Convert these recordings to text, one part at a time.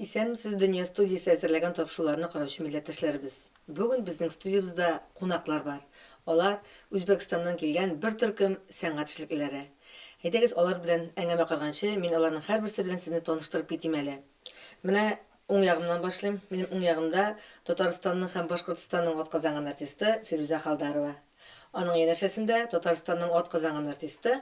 Исәнмесез, Дөнья студиясе әзерләгән тапшыруларны караучы милләттәшләребез. Бүген безнең студиябездә кунаклар бар. Алар, Үзбәкстаннан килгән бер төркем сәнгать эшлеклеләре. Әйдәгез, алар белән әңгәмә корганчы, мин аларның һәрберсе белән сезне таныштырып китим әле. Менә уң ягымнан башлыйм. Минем уң ягымда Татарстанның һәм Башкортстанның атказанган артисты Фирүзә Халдарова. Аның янәшәсендә Татарстанның атказанган артисты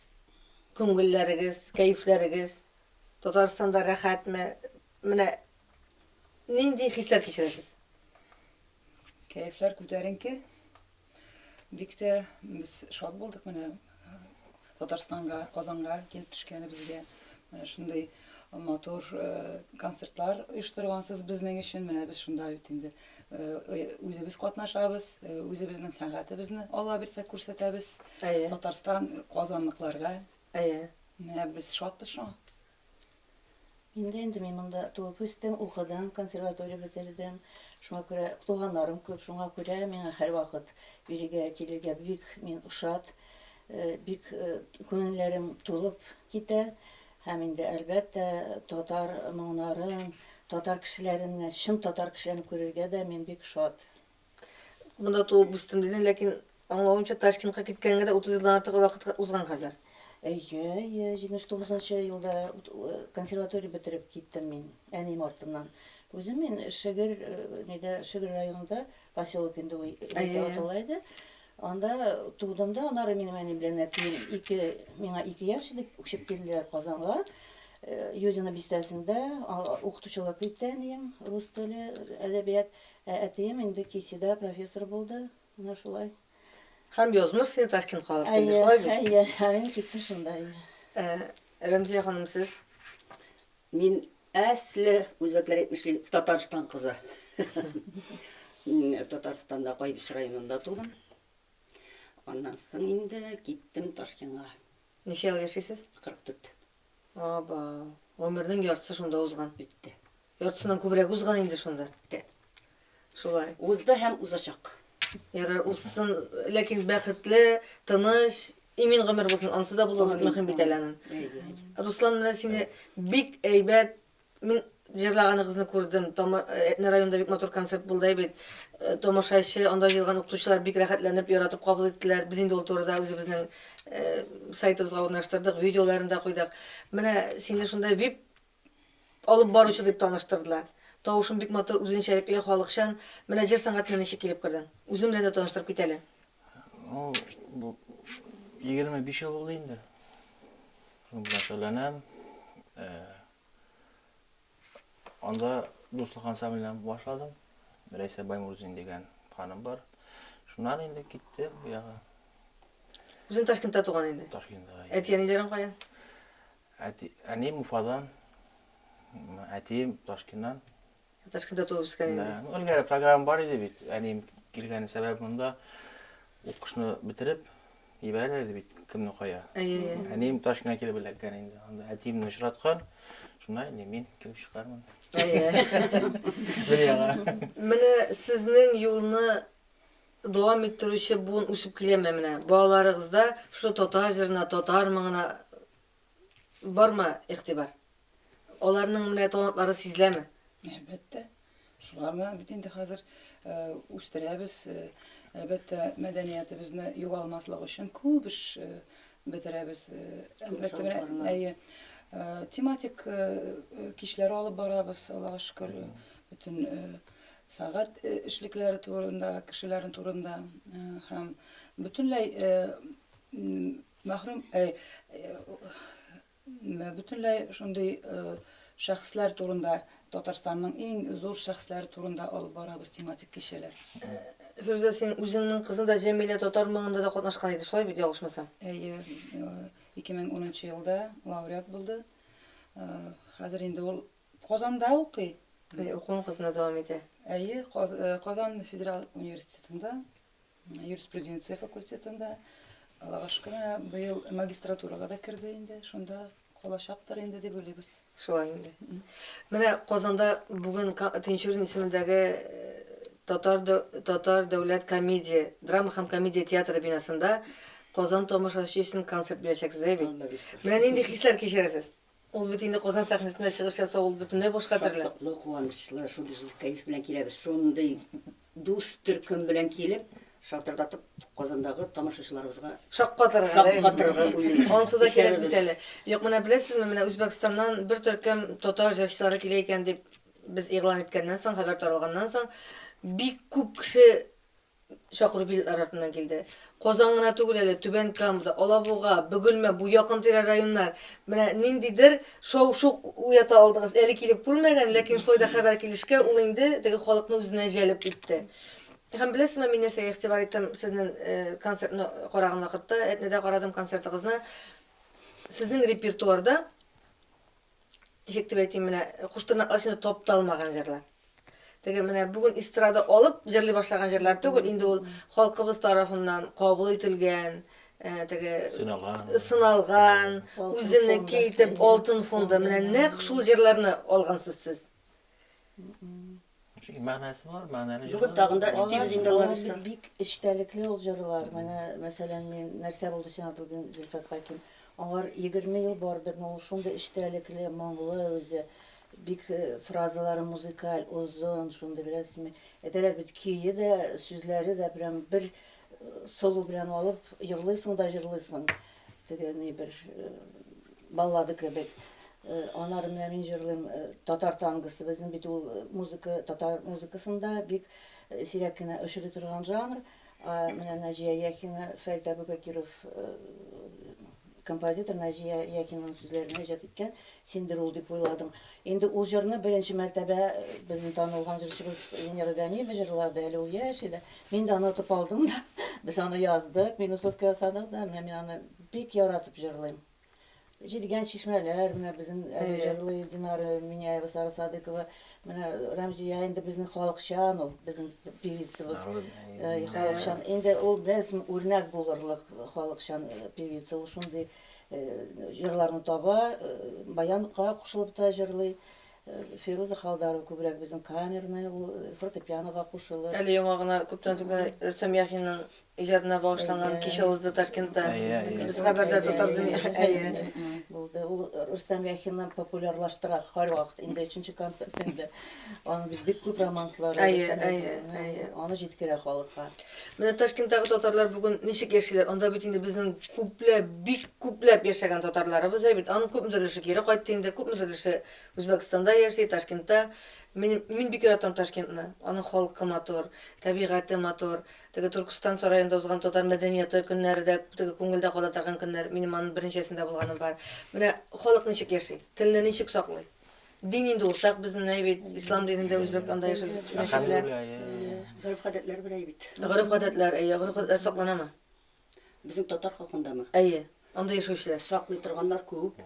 Күңелләрегез, кәефләрегез Татарстанда рәхәтме? Менә нинди хисләр кичерәсез? Кәефләр күтәренке. Бик тә без шат булдык менә Татарстанга, Казанга килеп төшкәнебезгә. Менә шундый матур концертлар оештыргансыз безнең өчен. Менә без шунда бит инде Үзебез катнашабыз, үзебезнең сәнгатебезне Алла бирсә күрсәтәбез. Татарстан казанлыкларга. Әйе. Менә без шатбыз шуңа. Мин дә инде мин монда туып үстем, укыдым, консерватория бетердем. Шуңа күрә туганнарым күп, шуңа күрә миңа һәрвакыт бирегә килергә бик мин ошат, бик күңелләрем тулып китә. Һәм инде, әлбәттә, татар моңнарын, татар кешеләрен, чын татар кешеләрен күрергә дә мин бик шат. Монда туып үстем дидең, ләкин аңлавымча, Ташкентка киткәнгә дә 30 елдан артык вакыт узган хәзер. Әйе, әйе, 79 нчы елда консерватория бетереп киттем мин әнием артыннан. Үзем мин Шегер, нидә, Шегер районында, поселок инде ул атала иде. Анда тудым да, аннары минем әни белән әтием ике, миңа ике яшь идек, күчеп килделәр Казанга. Э, Юдино бистәсендә укытучылык итте әнием, рус теле, әдәбият. Ә әтием инде Кисида профессор булды. Менә шулай. Һәм язмыш сине Ташкент калып килде, шулай бит? Әйе, ә мин киттем шунда. Э, Рәмзия ханым, сез? Мин Әсле үзбәкләр әйтмешли, Татарстан кызы. Татарстанда Кайбыч районында тудым. Аннан соң инде киттем Ташкенга. Ничә ел яшисез? 44. Аба, гомернең яртысы шунда узган. Битте. Яртысыннан күбрәк узган инде шунда. Битте. Шулай узды һәм узачак. Ярар, узсын, ләкин бәхетле, тыныч, имин гомер булсын, анысы да булуы бик мөһим бит әле анын. Руслан белән сине бик әйбәт, мин җырлаганыгызны күрдем, Әтнә районында бик матур концерт булды әй бит, тамашачы, анда җыелган укытучылар бик рәхәтләнеп, яратып кабул иттеләр, без инде ул турыда үзебезнең сайтыбызга урнаштырдык, видеоларын да куйдык. Менә сине шунда вип Алып баручы дип таныштырдылар. Тавышың бик матур, үзенчәлекле, халыкчан. Менә җыр сәнгатенә ничек килеп кердең? Үзең белән дә таныштырып кит әле. Ул бу 25 ел булды инде. Шуның белән шөгыльләнәм. Э, Анда дуслык ансамбленнән башладым. Рәйсә Баймурзин дигән ханым бар. Шуннан инде китте бу ягы. Үзең Ташкентта туган инде. Ташкентта. Әти-әниләрең кая? Әти, әнием Уфадан, әтием Ташкеннан. Ташкентта туып үскән инде. Да, ну, элгәре программа бар иде бит. Әнием килгән сәбәп монда укышны бетереп ибәрәләр иде бит, кемне кая. Әйе, әйе. Әнием Ташкеннан килеп эләккән инде. Анда әтиемне очраткан. Шунда инде мин килеп чыкканмын. Әйе. Дөньяга. Менә сезнең юлны Дәвам иттерүче буын үсеп киләме менә? Балаларыгызда шушы татар җырына, татар моңына бармы игътибар? Аларның менә талантлары сизеләме? Әлбәттә. Шулар белән бит инде хәзер үстерәбез. Әлбәттә, мәдәниятебезне югалмаслык өчен күп эш бетерәбез. Әлбәттә, менә әйе. Тематик кичләр алып барабыз, Аллага шөкер, бөтен сәгать эшлекләре турында, кешеләрен турында һәм бөтенләй мәхрүм бөтенләй шундый шәхесләр турында Татарстанның иң зур шәхесләре турында алып барабыз тематик кичәләр. Фирүзә, син үзеңнең кызың да Җәмилә татар моңында да катнашкан иде, шулай бит, ялгышмасам? Әйе, 2010 елда лауреат булды. Хәзер инде ул Казанда укый. Әйе, укуын Казанда дәвам итә. Әйе, Казан федераль университетында, юриспруденция факультетында. Аллага шөкер, менә быел магистратурага да керде инде, шунда калачактыр инде дип уйлыйбыз. Шулай инде. Менә Казанда бүген Тинчурин исемендәге Татар Татар дәүләт комедия, драма һәм комедия театры бинасында Казан тамашачы өчен концерт бирәчәксез, әйе бит? Менә нинди хисләр кичерәсез? Ул бит инде Казан сәхнәсендә чыгыш ясау, ул бөтенләй башка төрле. Шатлыклы, куанычлы, шундый зур кәеф белән киләбез. Шундый дус төркем белән килеп, шатырдатып Казандагы тамашачыларыбызга шаккатырырга, шаккатырырга уйлыйбыз. Ансы да кирәк бит әле. Юк, менә беләсезме, менә Үзбәкстаннан бер төркем татар җырчылары килә икән дип без игълан иткәннән соң, хәбәр таралганнан соң, бик күп кеше чакыру билетлары артыннан килде. Казан гына түгел әле, Түбән Камада, Алабуга, Бөгелмә, бу якын-тирә районнар. Менә ниндидер шау-шу уята алдыгыз. Әле килеп күрмәгән, ләкин шулай да хәбәр килешкә, ул инде теге халыкны үзенә җәлеп итте. Һәм беләсезме, мин нәрсәгә игътибар иттем сезнең концертны караган вакытта, Әтнәдә карадым концертыгызны. Сезнең репертуарда ничек дип әйтим, менә куштырнаклар эчендә тапталмаган җырлар. Теге менә бүген эстрада алып җырлый башлаган җырлар түгел, инде ул халкыбыз тарафыннан кабул ителгән, э, теге сыналган, сыналган, үзенеке итеп алтын фонда. Менә нәкъ шул җырларны алгансыз сез. Шуның мәгънәсе бар, мәгънәле җырлар. Бүген тагын да өстим җиңдәләр исә. Бик эчтәлекле ул җырлар. Менә, мәсәлән, мин нәрсә булды сиңа бүген Зөлфәт Хаким? Аңар 20 ел бардырмы, ул шундый эчтәлекле, моңлы үзе. Бик э, фразалары музыкаль, озын, шундый беләсезме. Әйтәләр бит, көе дә, сүзләре дә прям бер э, сылу белән алып, җырлыйсың да җырлыйсың. Теге ни бер баллада кебек. Анар менә мин җырлыйм татар тангосы. Безнең бит ул музыка татар музыкасында бик сирәк кенә очрый торган жанр. Менә Наҗия Яхина, Фәрит Абубәкиров композитор Наҗия Яхинаның сүзләренә иҗат иткән Синдер ул дип уйладым. Инде ул җырны беренче мәртәбә безнең танылган җырчыбыз Венера Ганиева җырлады, әле ул яшь иде. Мин дә аны отып алдым да, без аны яздык, минусовка ясадык да, менә мин аны бик яратып җырлыйм. Җидегән чишмәләр, менә безнең әле җырлый Динара Миняева, Сара Садыкова, менә Рәмзия инде безнең халыкчан ул, безнең певицабыз, халыкчан. Инде ул без үрнәк булырлык халыкчан певица, ул шундый Җырларны таба, баян га кушылып та җырлый. Фируза Халдарова күбрәк безнең камерный, ул фортепиано га кушылыр. Әле яңа гына күптән түгел Рөстәм Яхинның иҗатына багышланган кичә узды Ташкентта. Без хәбәрдар татар дөнья, әйе. Булды. Ул Рөстәм Яхиннан популярлаштыра һәрвакыт. Инде өченче концерт инде. Аның бит бик күп романслары, Әйе, әйе, әйе. Аны җиткерә халыкка. Менә Ташкенттагы татарлар бүген ничек яшиләр? Анда бит инде безнең күпләп, бик күпләп яшәгән татарларыбыз әйбит. Аның күпмедер өлеше кире кайтты инде, күпмедер өлеше Үзбәкстанда яши, Ташкентта. Мин, мин бик яратам Ташкентны. Аның халкы матур, табигате матур. Теге Төркестан сараенда узган татар мәдәнияты көннәре дә теге күңелдә кала торган көннәр. Минем аның берничәсендә булганым бар. Менә халык ничек яши, телне ничек саклый? Дин инде уртак безнең әй бит, ислам динендә үзбәк анда яшәүче мәчетләр. Гореф-гадәтләр бер әй бит. Гореф-гадәтләр, әйе, гореф-гадәтләр сакланамы? Безнең татар халкындамы? Әйе, анда яшәүчеләр. Саклый торганнар күп,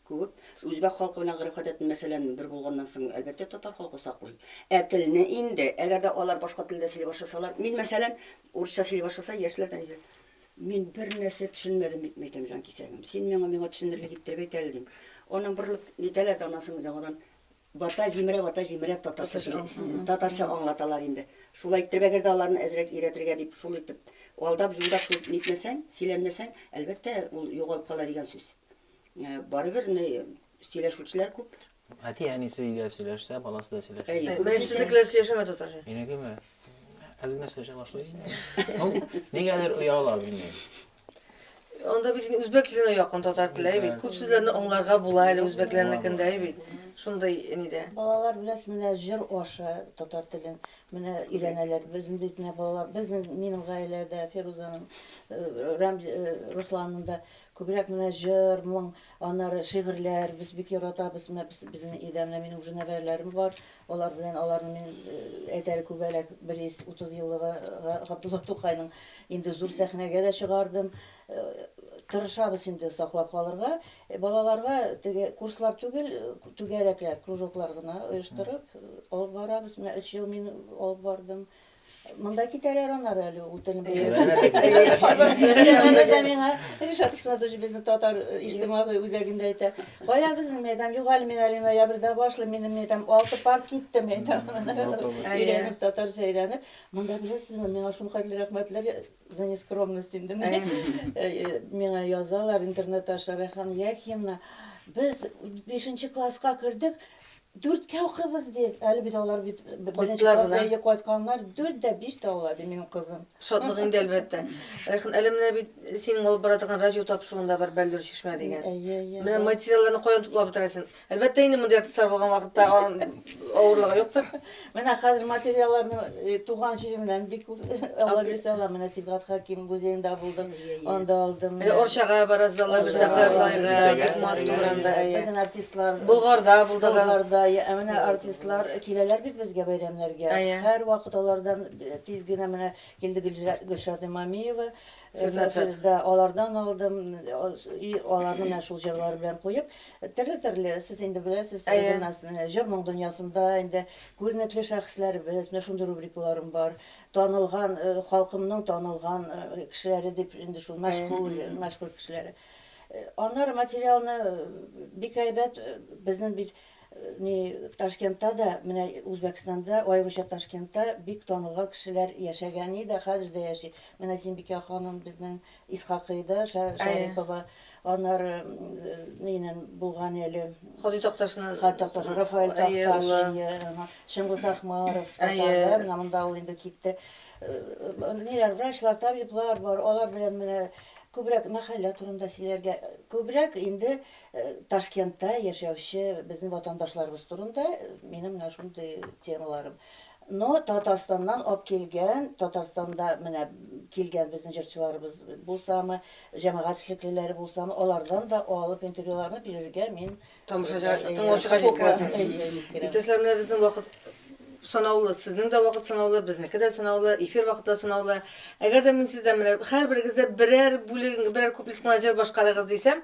күп. Үзбәк халкы белән гореф-гадәтен, мәсәлән, бер булганнан соң, әлбәттә, татар халкы саклый. Ә телне инде, әгәр дә алар башка телдә сөйли башласалар, мин, мәсәлән, урысча сөйли башласа, яшьләр дә ничек? Мин бер нәрсә төшенмәдем, бит мәйтәм, җанкисәгем. Син миңа миңа төшенерлек иттереп әйт әле, дим. Аннан борылып нитәләр дә аннан соң яңадан бата җимерә, бата җимерә татарча теле, татарча аңлаталар инде. Шулай иттереп, әгәр дә аларны әзрәк өйрәтергә дип, шул итеп алдап, җулдап шул нитмәсәң, сөйләнмәсәң, әлбәттә, ул югалып кала дигән сүз. Барыбер, менә сөйләшүчеләр күп. Әти әнисе өйдә сөйләшсә, баласы да сөйләшә. Әйе. Күбесе Мен сезнекеләр сөйләшәме татарча? Минекеме? Әз генә сөйләшә башлый. Ну, нигәдер ояла, белмим. Анда бит инде үзбәк теленә якын татар теле әй бит. Күп сүзләрне аңларга була әле үзбәкләрнекендә әй бит. Шундый нидә. Балалар беләс менә җыр аша татар телен менә өйрәнәләр. Безнең бит менә балалар, безнең минем гаиләдә Фирузаның, Рәмз, Русланның да күбрәк менә җыр, моң, Аннары шигырьләр, без бик яратабыз, менә безнең өйдә менә минем уже нәбәрәләрем бар, алар белән аларны мин әйт әле күбәләк 130 еллыгы Габдулла Тукайның инде зур сәхнәгә дә чыгардым. Тырышабыз инде саклап калырга. Балаларга теге курслар түгел, түгәрәкләр, кружоклар гына оештырып алып барабыз. Менә өч ел мин алып бардым. Монда китәләр аннары әле ул телне белмәгәннәр. Миңа Ришат Исмәтович безнең татар иҗтимагый үзәгендә әйтә, кая безнең мәйдан, юк әле мин әле ноябрьдә башлыйм, минем мәйдан алты пар китте мәйдан. Өйрәнеп, татарча өйрәнеп. Монда беләсезме, миңа шул хәтле рәхмәтләр за нескромность инде. Миңа язалар интернет аша, Рәйхан Яхина, без бишенче класска кердек, Дүрткә укыйбыз, ди. Әле бит алар бит беренче класс, әйе, кайтканнар. Дүрт дә биш тә ала, ди минем кызым. Шатлык инде, әлбәттә. Рәйхан, әле менә бит синең алып бара торган радио тапшыруың да бар, Бәллүр чишмә дигән. Әйе, әйе. Менә материалларны каян туплап бетерәсең? Әлбәттә инде, мондый артистлар булган вакытта авырлыгы юктыр. Менә хәзер материалларны э, туган җиремнән бик күп алып йөрсә алам. Менә Сибгат Хаким музеенда булдым, анда алдым. Менә Орчага барасыз, алар бездә Орчага Карлайга, барасыз. бик матур анда. әйе. Безнең артистлар Болгарда булдыгыз. Болгарда, я- ә менә артистлар киләләр бит безгә бәйрәмнәргә. Әйе. Һәрвакыт алардан э, тиз генә менә килде Гөлжа- Гөлшат Имамиева. Э, Фирдат Фирдат. Да, алардан алдым. Э, И аларны менә шул җырлары белән куеп, Төрле-төрле, сез инде беләсез, Әйе. гимназия, җыр-моң дөньясында инде күренекле шәхесләребез, менә шундый рубрикаларым бар. Танылган, э, халкымның танылган, э, кешеләре дип, инде шул мәшһүр, Әйе. мәшһүр кешеләре. Э, Аннары материалны э, бик әйбәт, э, безнең бит э, ни Ташкентта да, менә Үзбәкстанда, аеруча Ташкентта бик танылган кешеләр яшәгән иде, хәзер дә яши. Менә Зимбикә ханым безнең Исхакыйда Шарипова, аннары нинен булган әле. Ходый Такташны. Ходый Такташ, Рафаэль Такташ, әйе. Чыңгыз Ахмаров, татарлар, менә монда ул инде китте. Ниләр, врачлар, табиблар бар, алар белән менә күбрәк мәхәллә турында сөйләргә, күбрәк инде Ташкентта яшәүче безнең ватандашларыбыз турында минем менә шундый темаларым. Ну, Татарстаннан ап килгән, Татарстанда менә килгән безнең җырчыларыбыз булсамы, җәмәгать эшлеклеләре булсамы, алардан да алып интервьюларны бирергә мин Тамашачыга, э, тыңлаучыга ярата җиткерәсең. алам. Әйе, әйе, җиткерәм. Иптәшләр, менә безнең вакыт санаулы, сезнең дә вакыт санаулы, безнеке дә санаулы, эфир вакыты да санаулы. Әгәр дә мин сездән менә һәрберегез дә берәр бүлегең, берәр куплет кына җыр башкарыгыз дисәм,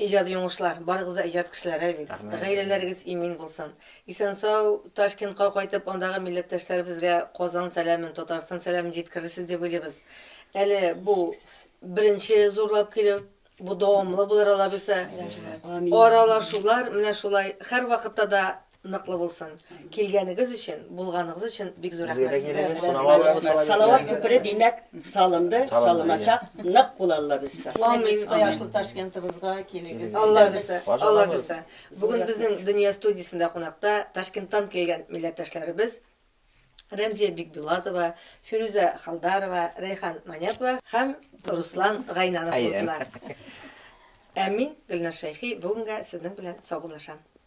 Иҗади уңышлар, барыгыз да иҗат кешеләре бит. Рәхмәт. Гаиләләрегез имин булсын. Исән-сау Ташкентка кайтып, андагы милләттәшләребезгә Казан сәламен, Татарстан сәламен җиткерерсез дип уйлыйбыз. Әле бу беренче зурлап килү, бу дәвамлы булыр алабуйса. Аралашулар менә шулай һәрвакытта да Ныклы булсын. Килгәнегез өчен, булганыгыз өчен бик зур рәхмәт сезгә. Салават күпере димәк салынды, салыначак, нык кул Алла бирсә. Килегез кояшлы Ташкентыбызга, килегез. Алла бирсә, Алла бирсә. Бүген безнең Дөнья студиясендә кунакта Ташкенттан килгән милләттәшләребез Рәмзия Бикбулатова, Фирүзә Халдарова, Рәйхан Манякова һәм Руслан Гайнанов булдылар. Ә мин, Гөлнар Шәйхи, бүгенгә сезнең белән саубуллашам.